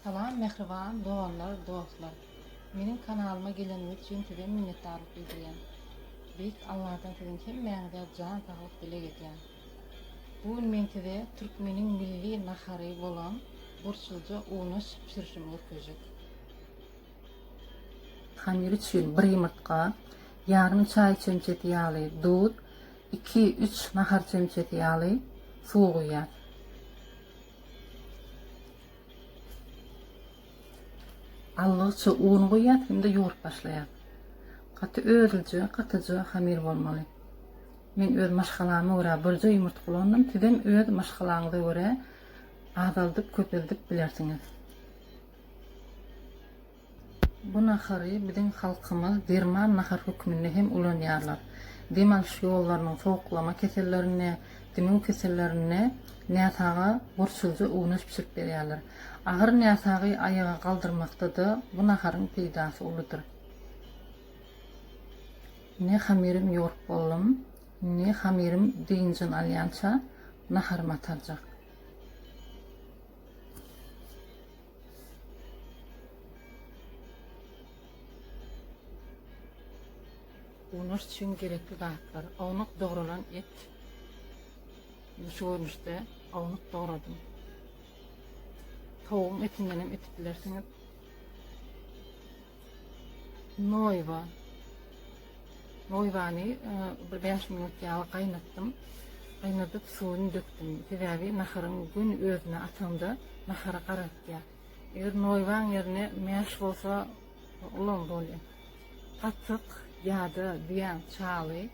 Salam mähriban doganlar dostlar meniň kanalyma geleniňiz üçin size minnetdarlyk bildirýän beýik Allahdan siziň hemmäňize jan saglyk dileg edýän bu gün men size türkmeniň milli nahary bolan burçluja una bişirişimi görkezjek. Hamir üçin bir ýumurtga, ýarym çaý çemçesi ýaly duz, iki-üç nahar çemçesi ýaly suw guýýas. Allygyça un guýýas hem-de ýugrup başlaýas. Gaty özlüje, gatyja hamir bolmaly. Men öz maşgalama görä birje ýumurtga ulandym, sizem öz maşgalaňyza görä azaldyp, köpeldip bilersiňiz. Bu nahary biziň halkymyz derman nahar hökmünde hem ulanýarlar. Dem alyş ýollarynyň sowuklama kesellerinde, dimew kesellerinde näsaga gurçulyja unaş bişirip berýärler. Agyr näsagy aýaga galdyrmakda-da bu naharyň peýdasy uludyr. Indi hamyrymy ýorup boldum. Indi hamyrym dynjyny alýança naharymy atarjak. Unaş üçin gerekli zatlar. Ownuk dogrulan et. Şu görnüşde ownuk dogradym. Towuň etinden hem etip bilersiňiz. Noýba. Noýbany e, bir 5 minut ýaly gaýnatdym. Gaýnadyp suwuny dökdüm. Sebäbi naharyň gün özüne atanda nahary garatýar. Eger noýbaň ýerine mäş bolsa ulam bolýar. Patyk ýa-da düýäň çaly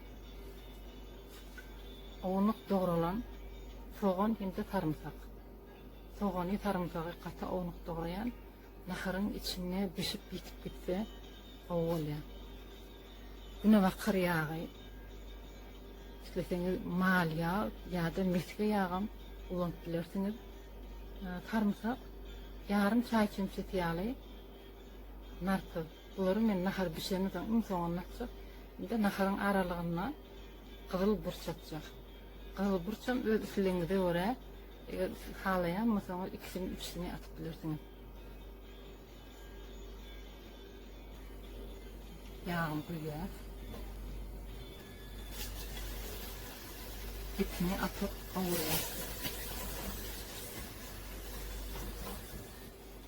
ownuk dogralan sogan hem-de sarymsak. Sogany, sarymsagy gaty ownuk dograýan. Naharyň içinde bişip ýitip gitse gowy bolýa. Günebakar ýagy, isleseňiz mal ýag ýa-da mesge ýagam ulanyp bilersiňiz. Sarymsak ýarym çaý çemçesi ýaly narpyz. Bulary men nahar bişenden soň iň soňunda atjak. Indi naharyň aralygyna gyzyl burç atjak. Gyzyl burçam öz islegiňize görä Eger siz halaýan bolsaňyz ikisini üçüsini atyp bilersiňiz. Ýagyny guýýas. Etini atyp gowurýas.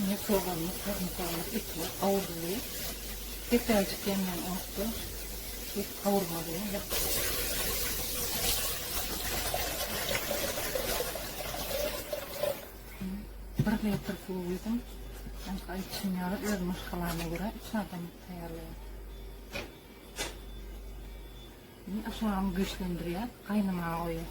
Ine soganlyk, sarymsaklyk etler gawruldy. Depäjik ýanýan otda et gawurmaly. Bir metr suw guýdum. Çünki aýtşym ýaly öz maşgalama görä üç adam taýýarlaýar. Indi aşagyny güýçlendirýär, gaýnamaga goýýar.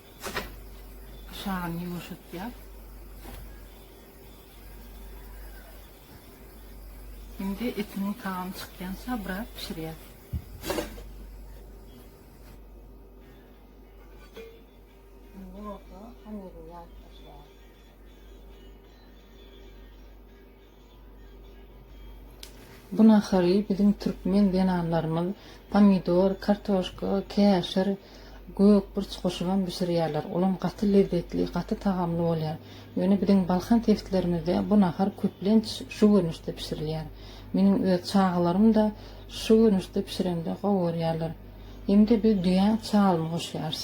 Aşagyny ýuwaşatýar. Şimdi etiniň tagamy çykýança biraz pişirýär. Şimdi olsa hamyryny ýaryp başlaýar. Bu nahary biziň türkmen zenanlarymyz pomidor, kartoşka, käşir, gök burç goşubam bişirýärler. Olam gaty lezzetli, gaty tagamly bolýar. Ýöne biziň Balkan sebitlerimizde bu nahar köplenç şu görnüşde bişirilýär. Meniň öz çagalarym-da şu görnüşde bişiremde gowy görýärler. Hem-de biz düýä çalmy goşýarys.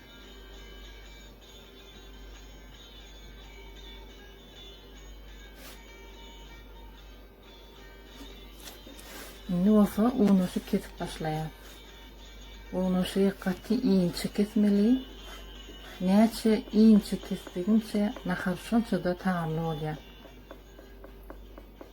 Indi bolsa unaşy kesip başlaýar. Unaşy gaty inçe kesmeli. Näçe inçe kesdigiňçe nahar şonça-da tagamly bolýar.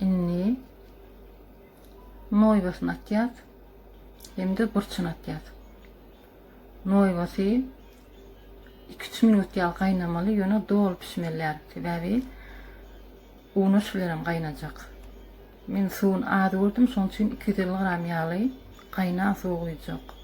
Indi noýbasyny atýas hem-de burçuny atýas. Noýbasy 2-3 minut ýaly gaýnamaly, ýöne doly pişmelýär. Sebäbi unuş bilen hem gaýnajak. Men suwuny az gördüm, şonuň üçin 250 gram ýaly gaýnan suw guýjak.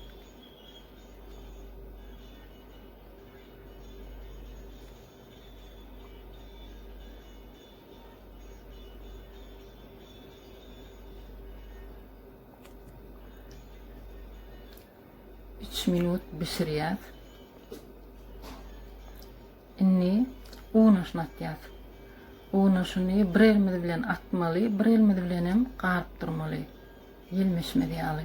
Üç minut bişirýär. Indi un aşnatýar. Un aşyny bir elimiz bilen atmaly, bir elimiz bilen hem garyp durmaly. Ýelmeşmez ýaly.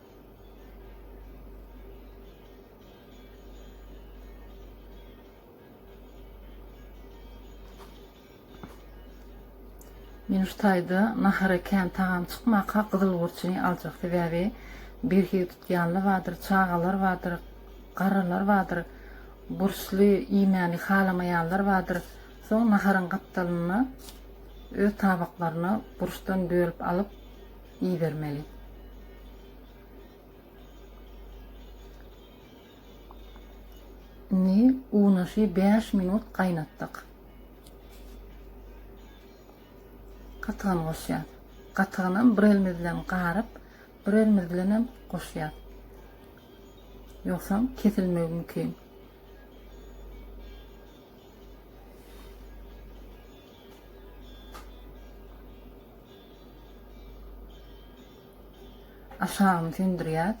Men şu taýda nahara kän tagam çykmaka gyzyl gurçuny aljak sebäbi birhili tutýanly bardyr, çagalar bardyr, garrylar bardyr, burçly iýmäni halamaýanlar bardyr. Soň naharyň gapdalyny öz tabaklaryna burçdan bölüp alyp, ibermeli. Indi unaşy 5 minut gaýnatdyk. Gatygan goşýar. Gatygynam bir elimiz bilen garyp, bir elimiz bilen hem goşýar. Ýogsam kesilmegi mümkin. Aşagyny söndürýäs.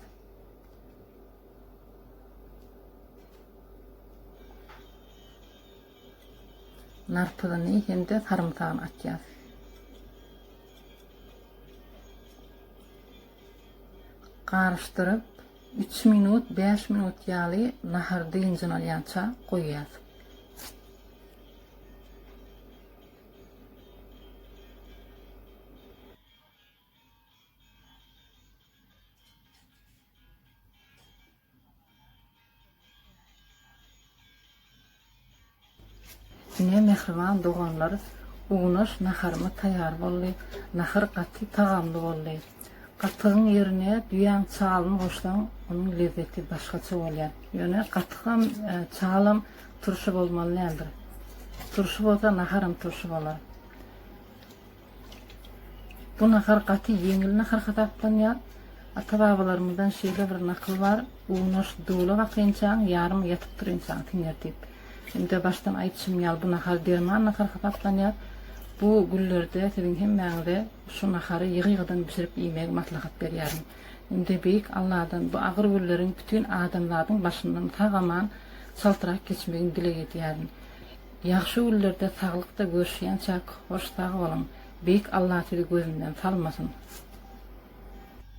Narpyzyny hem-de sarymsagyny atýas. Garyşdyryp, 3 minut, 5 minut ýaly nahar dynjyn alýança goýýas. Ine mähriban doganlar, unaş naharymyz taýýar boldy. Nahar gaty tagamly boldy. Gatygyň ýerine düýäň çalyny goşsaň, onuň lezzeti başgaça bolýar. Ýöne gatykam, çalam Turşy bolmaly nämedir? Turşy bolsa naharam turşy bolar. Bu nahar gaty ýeňil nahar hasaplanýar. Ata-babalarymyzdan şeýle bir nakyl bar, Unaş dula bakynçaň, ýarym ýatyp turynçaň siňer diýip. Indi başdan aýdyşym ýaly bu nahar derman nahar hasaplanýar. Bu günlerde siziň hemmäňize şu nahary ýygy-ýygydan bişirip iýmegi maslahat berýärin. Indi Beýik Alladan bu agyr günleriň bütin adamzadyň başyndan sag-aman, çaltrak geçmegini dileg edýärin. Ýagşy günlerde saglykda görüşýänçäk hoş sag boluň. Beýik Alla sizi gözünden salmasyn.